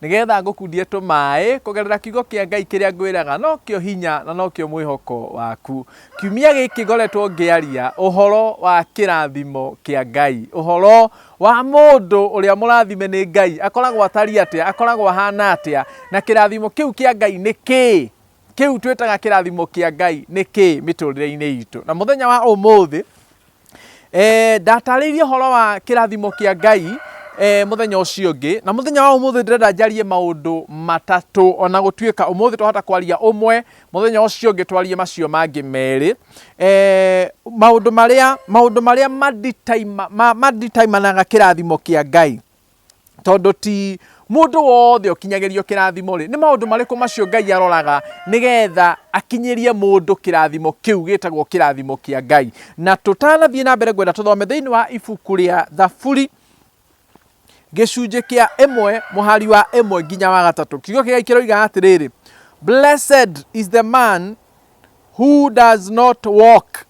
Nĩgeetha ngũkundie tũmaaĩ kũgerera Kiugo kĩa Ngai kĩrĩa ngwĩraga nokĩo hinya na nokĩo mwĩhoko waku. Kiumia gĩkĩ ngoretwo ngĩaria ũhoro wa kĩrathimo kĩa Ngai. Ũhoro wa mũndũ ũrĩa mũrathime nĩ Ngai. Akoragwo atariĩ atĩa? Akoragwo ahana atĩa? Na kĩrathimo kĩu kĩa Ngai nĩ kĩĩ? Kĩu twĩtaga kĩrathimo kĩa Ngai nĩ kĩĩ mĩtũrĩre-inĩ itũ? Na mũthenya wa ũmũthĩ, Eh, ndatarĩirie horo wa kĩrathimo kĩa Ngai eh, mũthenya ũcio ũngĩ na mũthenya wa ũmũthĩ ndĩrenda njarie maũndũ matatũ ona gũtuĩka ũmũthĩ twahota kwaria ũmwe mũthenya ũcio ũngĩ twarie macio mangĩ merĩ eh, maũndũ marĩa maũndũ marĩa maditaima- ma- maditaimanaga kĩrathimo kĩa Ngai tondũ ti mũndũ wothe ũkinyagĩrio kĩrathimo rĩ nĩ maũndũ marĩkũ macio ngai aroraga nĩgetha akinyĩrie mũndũ kĩrathimo kĩu gĩtagwo kĩrathimo kĩa ngai na tũtanathiĩ na mbere ngwenda tũthome thĩinĩ wa ibuku rĩa thaburi gĩcunjĩ kĩa ĩmwe mũhari wa ĩmwe nginya wa gatatũ kiugo kĩgai kĩroiga atĩrĩrĩ blessed is the man who does not walk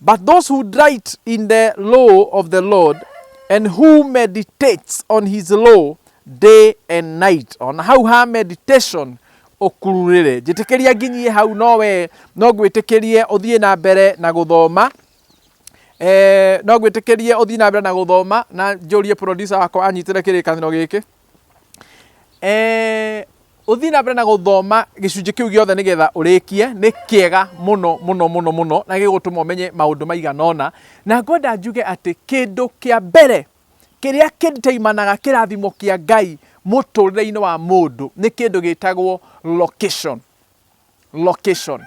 But those who delight in the law of the Lord and who meditates on his law day and night ona hau ha meditation ũkururĩre njĩtĩkĩria nginyie hau no we no ngwĩtĩkĩrie ũthiĩ na mbere na gũthoma eh, no ngwĩtĩkĩrie ũthiĩ na mbere na gũthoma na njũrie producer wakwa anyitĩre kĩrĩkanĩro gĩkĩ Eh, ũthiĩ na mbere na gũthoma gĩcunjĩ kĩu gĩothe nĩgetha ũrĩkie nĩ kĩega mũno mũno mũno mũno na gĩgũtũma ũmenye maũndũ maigana ũna na ngwenda njuge atĩ kĩndũ kĩa mbere kĩrĩa kĩndeimanaga kĩrathimo kĩa ngai mũtũrĩre-inĩ wa mũndũ nĩ kĩndũ gĩtagwo location location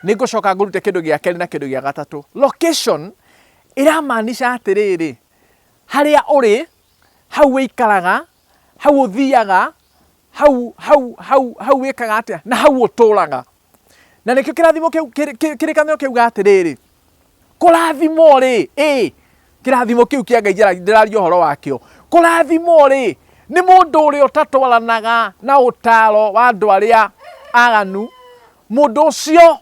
nĩ ngũcoka ngũrute kĩndũ gĩa kerĩ na kĩndũ gĩa gatatũ location ĩramaanisha atĩrĩrĩ harĩa ũrĩ hau wĩikaraga, hau ũthiaga, hau, hau, hau, hau wĩkaga atĩa, na hau ũtũraga. Na nĩkĩo kĩrathimo kĩu, kĩrĩ- kĩrĩ- kĩrĩkanĩro kĩuga atĩrĩrĩ, kũrathimwo-rĩ, ĩ, kĩrathimo kĩu kĩa Ngai njara- ndĩraria ũhoro wakĩo, kũrathimwo-rĩ, nĩ mũndũ ũrĩa ũtatwaranaga na ũtaro wa andũ arĩa aganu, mũndũ ũcio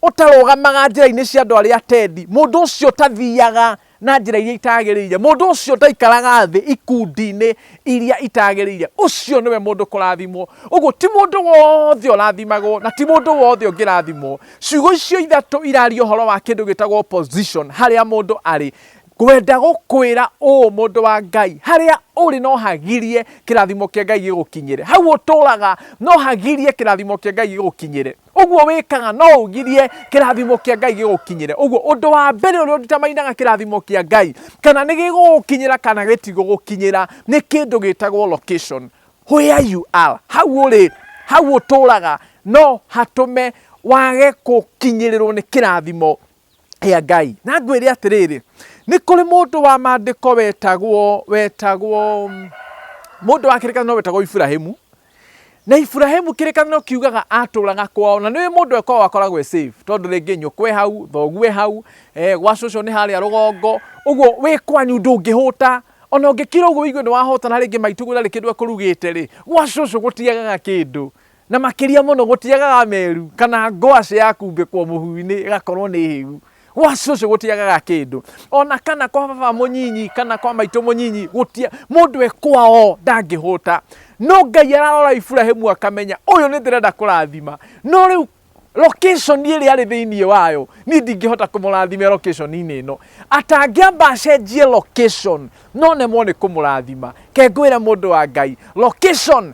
ũtarũgamaga njĩra-inĩ cia andũ arĩa atendi, mũndũ ũcio ũtathiaga na njĩra iria itagĩrĩire, mũndũ ũcio ũtaikaraga thĩ ikundi-inĩ iria itagĩrĩire, ũcio nĩwe mũndũ kũrathimwo. Ũguo ti mũndũ wothe ũrathimagwo na ti mũndũ wothe ũngĩrathimwo. Ciugo icio ithatũ iraria ũhoro wa kĩndũ gĩtagwo position harĩa mũndũ arĩ. Ngwenda gũkwĩra ũũ mũndũ wa Ngai, harĩa ũrĩ no hagirie kĩrathimo kĩa Ngai gĩgũkinyĩre. Hau ũtũraga no hagirie kĩrathimo kĩa Ngai gĩgũkinyĩre. Ũguo wĩkaga no ũgirie kĩrathimo kĩa Ngai gĩgũkinyĩre. Ũguo ũndũ wa mbere ũrĩa ũnditamainaga kĩrathimo kĩa Ngai kana nĩ gĩgũgũkinyĩra kana gĩtigũgũkinyĩra nĩ kĩndũ gĩtagwo location. Where you are, hau ũrĩ, hau ũtũraga no hatũme wage gũkinyĩrĩrwo nĩ kĩrathimo rĩa Ngai. Na ngwĩre atĩrĩrĩ, nĩ kũrĩ mũndũ wa maandĩko wetagwo, wetagwo, mũndũ wa kĩrĩkanĩro wetagwo Iburahimu, na Iburahimu kĩrĩkanĩro kiugaga atũraga kwao, na nĩũĩ mũndũ ekwao akoragwo e safe, tondũ rĩngĩ nyũkwa e hau, thoguo e hau, eh, gwa cũcũ nĩ harĩa rũgongo, ũguo wĩ kwanyu ndũngĩhũta, ona ũngĩkira ũguo ũigue nĩ wahũta na rĩngĩ maitũ guo ndarĩ kĩndũ ekũrugĩte-rĩ, gwa cũcũ gũtiagaga kĩndũ. Na makĩria mũno gũtiagaga meru kana ngwacĩ ya kumbĩkwo mũhu-inĩ ĩgakorwo nĩ hĩu. Gwacĩ ũcio gũtiagaga kĩndũ. O na kana kwa baba mũnyinyi kana kwa maitũ mũnyinyi gũtia, mũndũ e kwao ndangĩhũta. No Ngai ararora Iburahĩmu akamenya ũyũ nĩ ndĩrenda kũrathima. No rĩu location ĩrĩa arĩ thĩinĩ wayo niĩ ndingĩhota kũmũrathimĩra location inĩ ĩno. Atangĩamba acenjie location no nemwo nĩ kũmũrathima. Ke ngwĩre mũndũ wa Ngai, location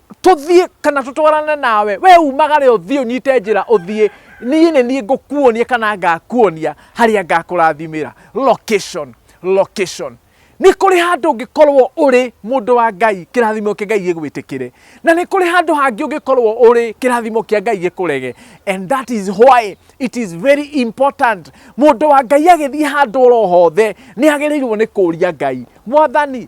Tũthiĩ kana tũtwarane nawe? Wee umagare ũthiĩ ũnyite njĩra ũthiĩ, niĩ nĩ niĩ ngũkuonia kana ngakuonia harĩa ngakũrathimĩra. Location, location. Nĩ kũrĩ handũ ũngĩkorwo ũrĩ mũndũ wa Ngai kĩrathimo kĩa Ngai gĩgwĩtĩkĩre, na nĩ kũrĩ handũ hangĩ ũngĩkorwo ũrĩ kĩrathimo kĩa Ngai gĩkũrege. And that is why it is very important. Mũndũ wa Ngai agĩthiĩ handũ oro hothe nĩ agĩrĩirwo nĩ kũria Ngai, Mwathani,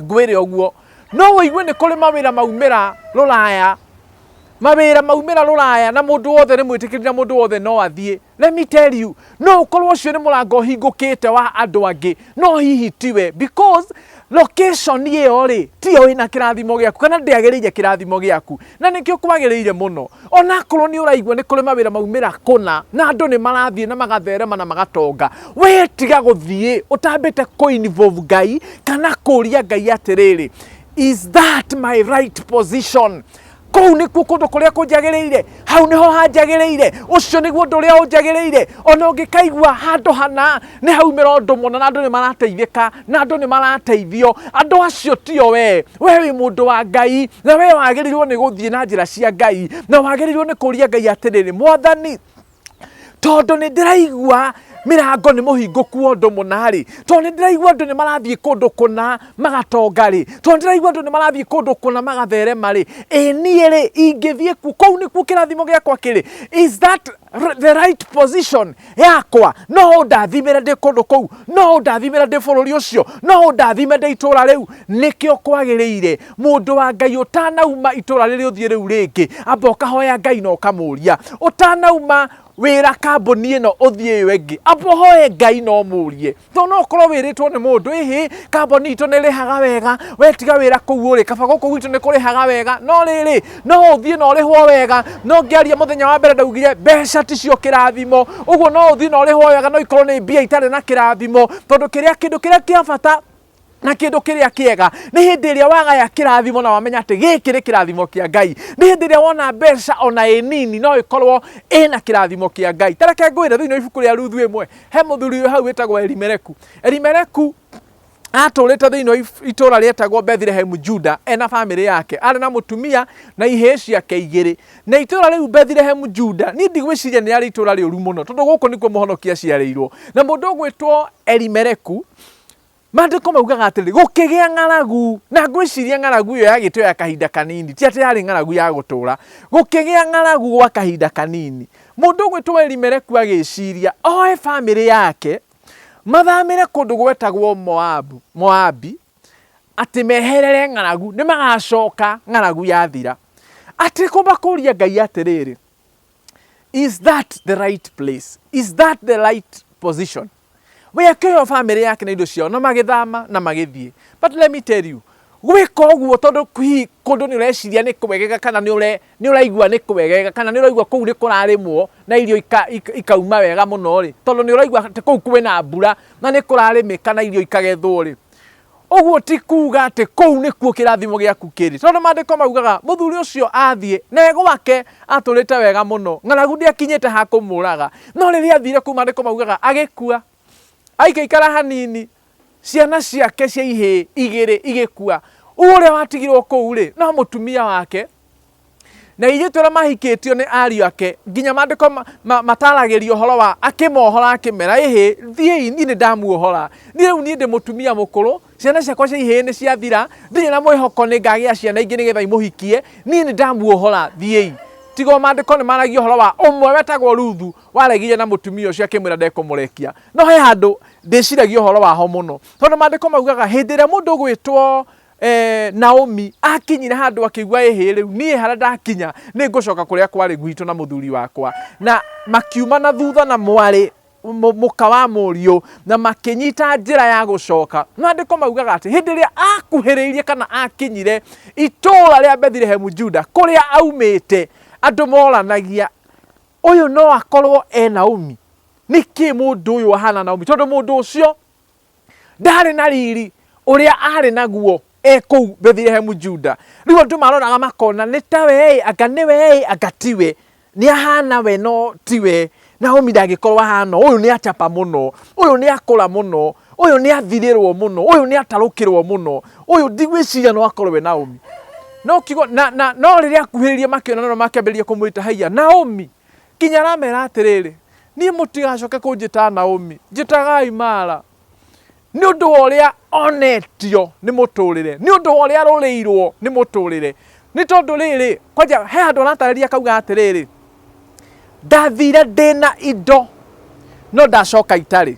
ngwĩre ũguo no wĩigue nĩ kũrĩ mawĩra maumĩra rũraya mawĩra maumĩra rũraya na mũndũ wothe nĩ mwĩtĩkĩri na mũndũ wothe no athiĩ let me tell you no ũkorwo ũcio nĩ mũrango ũhingũkĩte wa andũ angĩ no hihi tiwe because location ĩyo rĩ tiyo ĩna kĩrathimo gĩaku kana ndĩagĩrĩire kĩrathimo gĩaku na nĩkĩo kwagĩrĩire mũno onakorwo nĩ ũraigua nĩ kũrĩ mawĩra maumĩra kũna na andũ nĩ marathiĩ na magatherema na magatonga we tiga gũthiĩ ũtambĩte kũ involve ngai kana kũria ngai atĩrĩrĩ is that my right position kũu nĩkuo kũndũ kũrĩa kũnjagĩrĩire hau nĩho hanjagĩrĩire ũcio nĩguo ũndũ ũrĩa ũnjagĩrĩire ona ũngĩkaigua handũ hana nĩ haumĩra ũndũ mũna na andũ nĩ marateithĩka na andũ nĩ marateithio andũ acio tio wee we wĩ mũndũ wa ngai na we wagĩrĩirwo nĩ gũthiĩ na njĩra cia ngai na wagĩrĩirwo nĩ kũria ngai atĩrĩrĩ mwathani tondũ nĩ ndĩraigua mĩrango nĩ mũhingũku wa ũndũ mũna rĩ tondũ nĩ ndĩraigua andũ nĩ marathiĩ kũndũ kũna magatonga rĩ tondũ nĩ ndĩraigua andũ nĩ marathiĩ kũndũ kũna magatherema rĩ ĩ niĩ rĩ ingĩthiĩ kuo kũu nĩkuo kĩrathimo gĩakwa kĩrĩ is that r- the right position yakwa no ũndathimĩre ndĩ kũndũ kũu no ũndathimĩre ndĩ bũrũri ũcio no ũndathime ndĩ itũũra rĩu nĩkĩo kwagĩrĩire mũndũ wa ngai ũtanauma itũũra rĩrĩ ũthiĩ rĩu rĩngĩ amba ũkahoya ngai na ũkamũria ũtanauma wĩra kambũni ĩno ũthiĩ ĩyo ĩngĩ amba ũhoe ngai na ũmũrie no no korwo wĩrĩtwo nĩ mũndũ ĩhĩ kamboni itũ nĩ rĩhaga wega wetiga wĩra kũu ũrĩ kaba gũkũ gwitũ nĩ kũrĩhaga wega no rĩrĩ no ũthiĩ na ũrĩhwo wega no ngĩaria mũthenya wa mbere ndaugire mbeca ticio kĩrathimo ũguo no ũthiĩ na ũrĩhwo wega no ikorwo nĩ mbia itarĩ na kĩrathimo tondũ kĩrĩa kĩndũ kĩrĩa kĩa bata na kĩndũ kĩrĩa kĩega nĩ hĩndĩ ĩrĩa wagaya kĩrathimo na wamenya atĩ gĩkĩ nĩ kĩrathimo kĩa ngai nĩ hĩndĩ ĩrĩa wona mbeca ona ĩ nini no ĩkorwo ĩna kĩrathimo kĩa ngai tareke ngwĩre thĩinĩ wa ibuku rĩa ruthu ĩmwe he mũthuri ũyũ hau wĩtagwo elimeleku elimeleku atũrĩte thĩinĩ wa if- itũũra rĩetagwo bethlehemu juda ena bamĩrĩ yake arĩ na mũtumia na ihĩĩ ciake igĩrĩ na itũũra rĩu bethlehemu juda niĩ ndigwĩciria nĩ arĩ itũũra rĩũru mũno tondũ gũkũ nĩkuo mũhonokia aciarĩirwo na mũndũ ũgwĩtwo elimeleku Maandĩko maugaga atĩrĩ, gũkĩgĩa ng'aragu, na ngwĩciria ng'aragu ĩyo yagĩte ya kahinda kanini, ti atĩ yarĩ ng'aragu ya gũtũũra. Gũkĩgĩa ng'aragu gwa kahinda kanini. Mũndũ ũgwĩtwo Elimeleku agĩciria oe bamĩrĩ yake mathamĩre kũndũ gwetagwo Moabu, Moabi, atĩ meherere ng'aragu, nĩ magacoka ng'aragu yathira. Atĩ kũmakũria Ngai atĩrĩrĩ, is that the right place? Is that the right position? We akĩheo family yake na indo ciao na magĩthama na magĩthiĩ. But let me tell you, gwĩka ũguo tondũ hihi kũndũ nĩ ũreciria nĩ kwegega kana nĩ ũre nĩ ũraigua nĩ kwegega kana nĩ ũraigua kũu nĩ kũrarĩmwo na irio ika, ika, ikauma wega mũno rĩ tondũ nĩ ũraigua atĩ kũu kwĩna mbura na nĩ kũrarĩmĩka na irio ikagethwo rĩ Ũguo ti kuuga atĩ kũu nĩkuo kĩrathimo gĩaku kĩrĩ, tondũ maandĩko maugaga mũthuri ũcio athiĩ na e gwake atũrĩte wega mũno, ng'aragu ndĩakinyĩte ha kũmũũraga. No rĩrĩa athire kũu maandĩko maugaga agĩkua. Aikaikara hanini, ciana ciake cia ihĩĩ igĩrĩ igĩkua. Ũguo ũrĩa watigirwo kũu-rĩ, no mũtumia wake na ithuĩ tũrĩa mahikĩtio nĩ ariũ ake nginya maandĩko ma- ma- mataragĩria ũhoro wa akĩmohora akĩmera ĩhĩ thiĩi niĩ nĩ ndamuohora niĩ rĩu niĩ ndĩ mũtumia mũkũrũ ciana ciakwa cia ihĩĩ nĩ ciathira ndirĩ na mwĩhoko nĩ ngagĩa ciana ingĩ nĩgetha imũhikie niĩ nĩ ndamuohora thiĩi tiga o maandĩko nĩ maragia ũhoro wa ũmwe wetagwo ruthu waregire na mũtumia ũcio akĩmwĩra ndekũmũrekia no he handũ ndĩciragia ũhoro waho mũno tondũ maandĩko maugaga hĩndĩ ĩrĩa mũndũ ũgwĩtwo Eh, Naomi akinyire handå akĩigua ĩhĩ rĩu niĩ harĩa ndakinya nĩ ngũcoka kũrĩa kwarĩ gwitũ na mũthuri wakwa na makiuma na thutha na mwarĩ mũ- mũka wa mũriũ na makĩnyita njĩra ya gũcoka maandĩko maugaga atĩ hĩndĩ ĩrĩa akuhĩrĩirie kana akinyire itũũra rĩa bethilehemu juda kũrĩa aumĩte andũ moranagia ũyũ no akorwo e naomi nĩkĩ mũndũ ũyũ ahana naomi tondũ mũndũ ũcio ndarĩ na riri ũrĩa arĩ naguo e kũu Bethlehemu Juda. Rĩu andũ maroraga makona nĩ ta we anga nĩ we anga tiwe nĩ ahana we no tiwe Naomi ndangĩkorwo ahana ũyũ nĩ acapa mũno ũyũ nĩ akũra mũno ũyũ nĩ athirĩrwo mũno ũyũ nĩ atarũkĩrwo mũno ũyũ ndigwĩciria no akorwo we Naomi no kiugo na, na no rĩrĩa akuhĩrĩrie makĩona no makĩambĩrĩria kũmwĩta haiya Naomi Nginya aramera atĩrĩrĩ, niĩ mũtigacoke kũnjĩta Naomi, njĩtagai Mara, nĩ ũndũ wa ũrĩa onetio nĩ mũtũrĩre, nĩ ũndũ wa ũrĩa arũrĩirwo nĩ mũtũrĩre. Nĩ tondũ rĩrĩ, kwanja he handũ aratarĩria akauga atĩrĩrĩ, ndathire ndĩna indo no ndacoka itarĩ.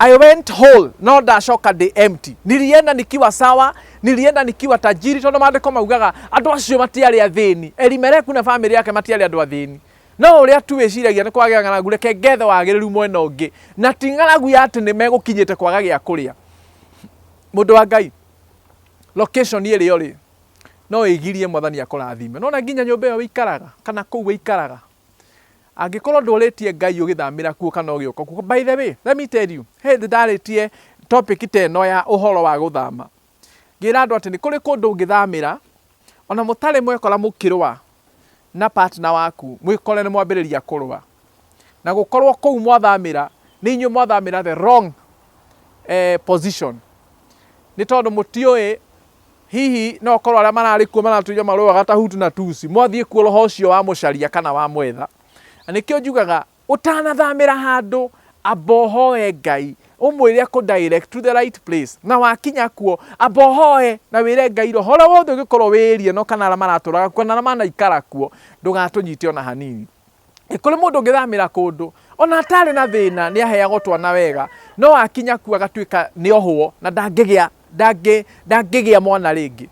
I went whole, no ndacoka ndĩ empty. Nilienda nikiwa sawa, nilienda nikiwa tajiri, tondũ maandĩko maugaga andũ acio matiarĩ athĩni. Elimeleku na famĩlĩ yake matiarĩ andũ athĩni. No ũrĩa tu wĩciragia nĩ kwagĩa ng'aragu, reke ngethe wagĩrĩru mwena ũngĩ. Na ti ng'aragu ya atĩ nĩ megũkinyĩte kwaga gĩa kũrĩa. Mũndũ wa Ngai, location ĩrĩa ũrĩ no ĩgirie mwathani akũrathime. Nona nginya nyũmba ĩyo wĩikaraga, kana kũu wĩikaraga, Angĩkorwo ndũrĩtie Ngai ũgĩthamĩra kuo kana ũgĩũka kuo. By the way, let me tell you, he hĩndĩ ndarĩtie topic ta ĩno ya ũhoro wa gũthama. Ngĩra andũ atĩ nĩ kũrĩ kũndũ ũngĩthamĩra, ona mũtarĩ mwekora mũkĩrũa na partner waku, mwĩkore nĩ mwambĩrĩria kũrũa. Na gũkorwo kũu mwathamĩra, nĩ inyuĩ mwathamĩra the wrong eh, position. Nĩ tondũ mũtiũĩ Hihi no gũkorũo arĩa mararĩ kuo maratũire marũaga ta Hutu na Tutsi mwathiĩ kuo roho ũcio wamũcaria kana wamwetha. Na nĩkĩo njugaga ũtanathamĩra handũ amba ũhoe Ngai ũmwĩre akũ direct to the right place. Na wakinya kuo amba ũhoe na wĩre Ngai roho ũrĩa wothe ũngĩkorũo wĩĩrire no kana arĩa maratũũraga kuo kana arĩa manaikara kuo ndũgatũnyite o na hanini. Nĩ kũrĩ mũndũ ũngĩthamĩra kũndũ ona atarĩ na thĩna nĩ aheagwo twana wega no akinya kuo agatuĩka nĩ ohwo na ndangĩgĩa ndangĩ ndangĩgĩa mwana rĩngĩ.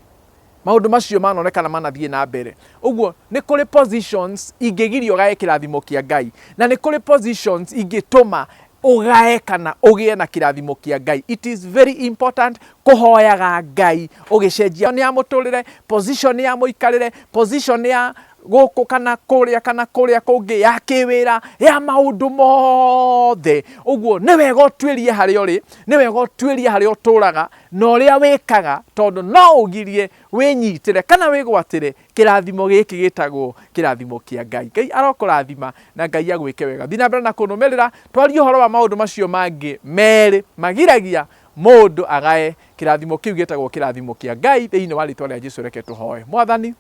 Maũndũ macio manonekana manathiĩ na mbere. Ũguo nĩ kũrĩ positions ingĩgiria ũgae kĩrathimo kĩa Ngai, na nĩ kũrĩ positions ingĩtũma ũgae kana ũgĩe na kĩrathimo kĩa Ngai. It is very important kũhoyaga Ngai ũgĩcenjia ya mũtũrĩre, position ya mũikarĩre, position ya gũkũ kana kũrĩa kana kũrĩa kũngĩ ya kĩwĩra ya maũndũ mothe ũguo nĩ wega ũtuĩrie harĩa ũrĩ nĩ wega ũtuĩrie harĩa ũtũraga na ũrĩa wĩkaga tondũ no ũgirie wĩnyitĩre kana wĩgwatĩre kĩrathimo gĩkĩ gĩtagwo kĩrathimo kĩa Ngai. Ngai arokũrathima na Ngai agwĩke wega. Thiĩ na mbere na kũnũmĩrĩra twarie ũhoro wa maũndũ macio mangĩ merĩ magiragia mũndũ agae kĩrathimo kĩu gĩtagwo kĩrathimo kĩa Ngai thĩinĩ wa rĩtwa rĩa Jesu reke tũhoe. Mwathani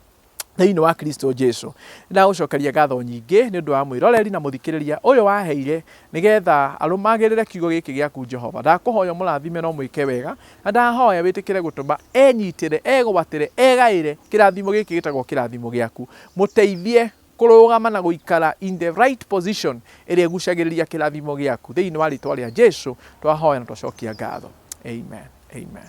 thĩinĩ wa Kristo Jesu. Nĩndagũcokeria ngatho nyingĩ nĩ ũndũ wa mwĩroreri na mũthikĩrĩria ũyũ waheire nĩgetha arũmagĩrĩre kiugo gĩkĩ gĩaku Jehova. Ndakũhoya ũmũrathime na ũmwĩke wega, na ndahoya wĩtĩkĩre gũtũma enyitĩre, egwatĩre, egaĩre kĩrathimo gĩkĩ gĩtagwo kĩrathimo gĩaku. Mũteithie kũrũgama na gũikara in the right position ĩrĩa ĩgucagĩrĩria kĩrathimo gĩaku. Thĩinĩ wa rĩtwa rĩa Jesu twahoya na twacokia ngatho. Amen. Amen.